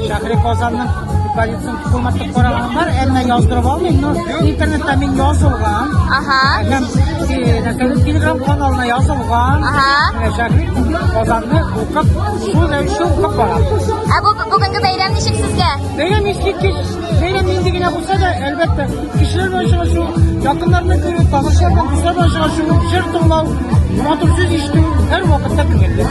Шәһри Казанның полиция хезмәтлек караган бар, әмма яздырып алмыйм, но интернетта мин язылган. Аһа. Һәм Нәкәле Телеграм каналына язылган. Аһа. Шәһри Казанны укып, шул рәвешле укып барам. Ә бу бүгенге бәйрәм ничек сезгә? Бәйрәм ничек? Бәйрәм нинди генә булса да, әлбәттә, кешеләр белән очрашу, якыннарны күрү, танышлар белән дуслар белән очрашу, җыр тыңлау, матур сүз ишетү һәр вакытта күңелле.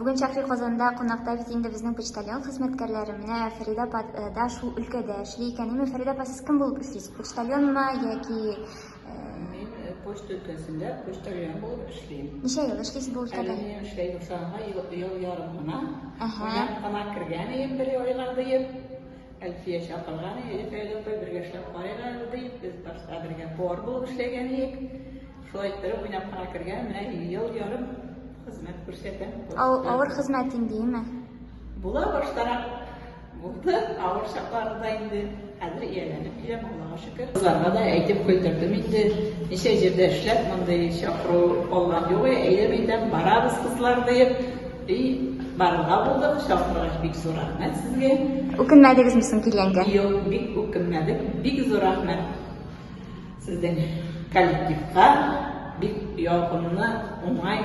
Бүген Шәфи Казанда кунакта бит инде безнең почтальон хезмәткәрләре. Менә Фәридә апа э, да шул өлкәдә эшли икән. Әмма Фәридә апа сез кем булып эшлисез? Почтальонмы яки э, Мин э, почта өлкәсендә почтальон булып эшлим. Ничә ел эшлисез бу өлкәдә? Әле мин эшләй башларга ел, ел ярым гына. Әһә. Кунак кына кергән идем бер айга диеп. Әлфия чакырган, әйе, Фәйдә апай, бергә эшләп карыйк әле, ди. Без башта бергә повар булып эшләгән идек. Шулай иттереп уйнап кына кергән, менә ел ярым хезмәт күрсәтәм. Ал, авыр хезмәт инде, име? Була баштарак булды, авыр чакларында инде. Хәзер ияләнеп киләм, Аллага шөкер. Кызларга да әйтеп куйдырдым инде, ничә җирдә эшләп, мондый чакыру алган юк, әйдә мәйдәм барабыз, кызлар, диеп, и барырга булдык, чакыргач бик зур рәхмәт сезгә. Үкенмәдегезме соң килгәнгә? Юк, бик үкенмәдек, бик зур рәхмәт сезнең коллективка, бик ягымлы, уңай